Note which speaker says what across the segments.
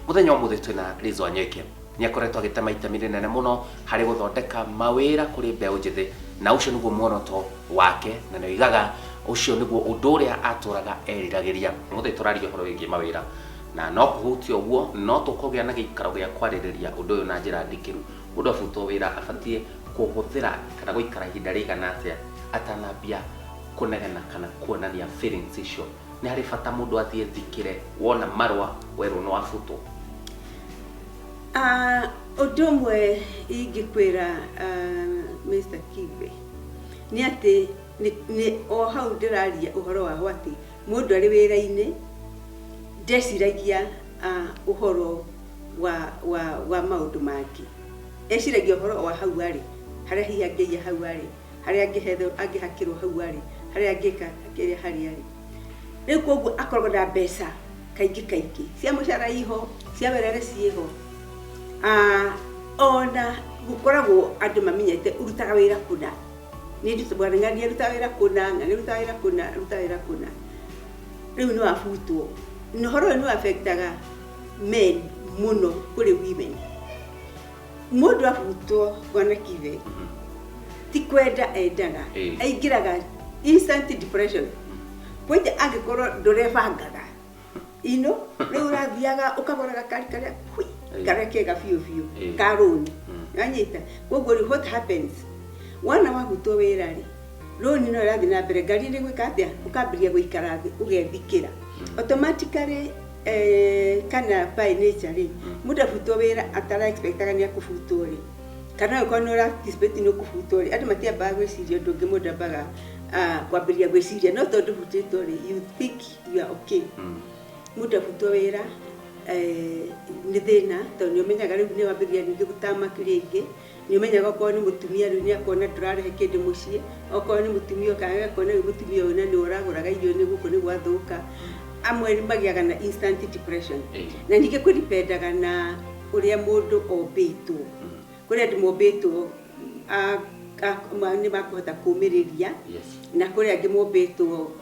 Speaker 1: muthenya umuthi twina Lizo Anyeke ni akoretwo agitema itemi rinene muno hari guthondeka mawira kuri mbeu njithi na ucio niguo muoroto wake na ni oigaga ucio niguo undu uria aturaga eriragiria muthi turaria uhoro wigie mawira na no kuhutia uguo no tukugia na giikaro gia kwaririria undu uyu na njira ndikiru mundu abutwo wira abatie kuhuthira kana guikara ihinda rigana atia atanambia Kũnegena kana kuonania feelings icio. Nĩ harĩ bata mũndũ athiĩ thikĩre wona marũa werwo nĩ wabutwo? Ah,
Speaker 2: ũndũ ũmwe ingĩkwĩra ah, Mr. Kibe nĩ atĩ nĩ, nĩ o hau ndĩraria ũhoro wa atĩ mũndũ arĩ wĩra-inĩ ndeciragia ah, ũhoro wa, wa, wa maũndũ mangĩ eciragia ũhoro wa hau arĩ harĩa hihi angĩiya hau arĩ harĩa angĩhetherwo angĩhakĩrwo hau arĩ harĩa angĩka kĩrĩa harĩa arĩ rĩu koguo akoragwo na mbeca kaingĩ kaingĩ cia mũcara iho cia werere ciĩho Ah, ona gũkoragwo andũ mamenyete ũrutaga wĩra kũna nĩ ndutũ bwana ng'ani aruta wĩra kũna ng'ani aruta wĩra kũna aruta wĩra kũna rĩu nĩ wabutwo na ũhoro ũyũ nĩ wabektaga men mũno kũrĩ women Mũndũ ahutwo bwana Kibe ti kwenda endaga Eh. aingĩraga instant depression kwanja angĩkorwo ndũrebangaga ino rĩu ũrathiaga ũkagũra gakari karĩa hui, Eh. karĩa kega biũ biũ Eh. ka rũni Mm. nanyita koguo rĩu what happens wana wahutwo wĩra rĩ rũni no ĩrathiĩ na mbere ngari nĩ gwĩka atĩa ũkambĩrĩria gũikara thĩ ũgethikĩra automatically Eh, kana by nature rĩ mũndũ abutwo wĩra atara expectaga nĩ akũbutwo rĩ kana ũkorwo nĩ ũra expect nĩ ũkũbutwo rĩ andũ matiambaga gwĩciria ũndũ ũngĩ mũndũ ambaga ah, kwambĩrĩria gwĩciria no tondũ ũbutĩtwo rĩ you think you are okay mũndũ abutwo wĩra eh, nĩ thĩna tondũ nĩ ũmenyaga rĩu nĩ wambĩrĩria ningĩ gũtama rĩngĩ Nĩũmenyaga okorwo nĩ mũtumia rĩu nĩakona ndũrarehe kĩndũ mũciĩ, okorwo nĩ mũtumia okaga agakĩona rĩu mũtumia ũyũ na nĩwe ũragũraga irio nĩ gũkũ nĩ gwathũka. Amwe magĩaga na instant depression. Na ningĩ kũ depend aga na ũrĩa mũndũ ombĩtwo. Kũrĩ andũ mombĩtwo nĩmakũhota kũmĩrĩria na kũrĩ angĩ mombĩtwo...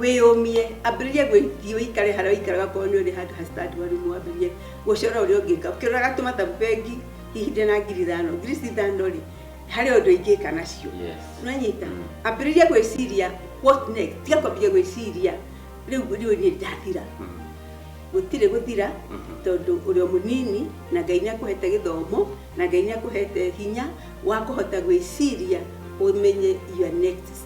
Speaker 2: wĩyũmie ambĩrĩrie gwĩthiĩ ũikare harĩa ũikaraga korwo nĩ ũrĩ handũ hacitandwaru mwambĩrĩrie gũcora ũrĩa ũngĩka ũkĩroraga tũmathabu bengi hihi ndĩ na ngiri ithano ngiri ici ithano rĩ harĩ ũndũ ingĩka nacio nanyita ambĩrĩrie gwĩciria what next tiga kwambĩrĩria gwĩciria rĩu rĩu niĩ ndathira gũtirĩ gũthira tondũ ũrĩ o mũnini na ngai nĩ akũhete gĩthomo na ngai nĩ akũhete hinya wa kũhota gwĩciria ũmenye your next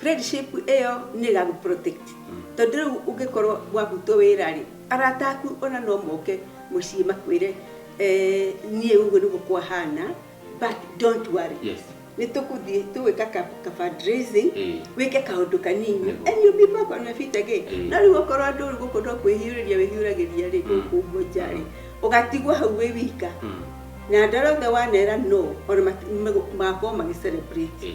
Speaker 2: Friendship ĩyo nĩ ĩgagũ protect. Tondũ rĩu ũngĩkorwo wabutwo wĩra rĩ, arata aku ona no moke mũciĩ makwĩre eh, niĩ ũguo nĩguo kwahana but don't worry. Yes. Nĩ tũkũthiĩ tũgwĩka ka, ka fundraising, Eh. wĩke kaũndũ kanini Nĩguo. and you'll be back on your feet again. Eh. No rĩu okorwo andũ rĩu gũkũ no kwĩhiũrĩria wĩhiũragĩria rĩ, Mm. gũkũ ũguo nja rĩ, ũgatigwo hau wĩ wika Mm. na andũ arĩa othe wanera no ona mati- magũ- magakorwo magĩ celebrate Eh.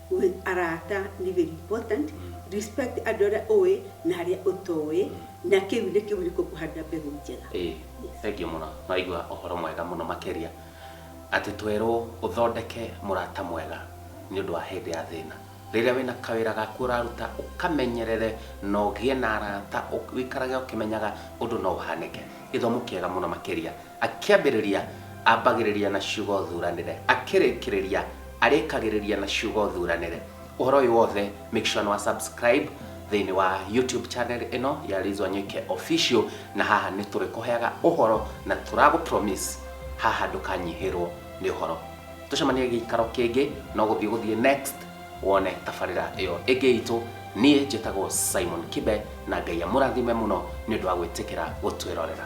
Speaker 2: Gwĩ arata nĩ very important, respect andũ arĩa ũĩ na arĩa ũtoĩ, na kĩu nĩ kĩhuriko kũhanda mbegũ njega. Ĩĩ, thengiũ mũno.
Speaker 1: Nĩwaigua ũhoro mwega mũno makĩria atĩ twerwo ũthondeke mũrata mwega nĩ ũndũ wa hĩndĩ ya thĩna. Rĩrĩa wĩna kawĩra gaku ũraruta ũkamenyerere na ũgĩe na arata ũikarage ũkĩmenyaga ũndũ no ũhanĩke. Gĩthomo kĩega mũno makĩria. Akĩambĩrĩria, ambagĩrĩria na ciugo thuranĩre. Akĩrĩkĩrĩria, arĩkagĩrĩria na ciugo thuranĩre. Ũhoro ũyũ wothe, make sure nĩ wa subscribe thĩinĩ wa YouTube channel ĩno ya Liz Wanyuike Official, na haha nĩ tũrĩkũheaga ũhoro na tũragũ promise haha ndũkanyihĩrwo nĩ ũhoro. Tũcemanie gĩikaro kĩngĩ, no gũthiĩ gũthiĩ next wone tabarĩra ĩyo ĩngĩ itũ. Niĩ njĩtagwo Simon Kibe, na Ngai amũrathime mũno nĩ ũndũ wa gwĩtĩkĩra gũtwĩrorera.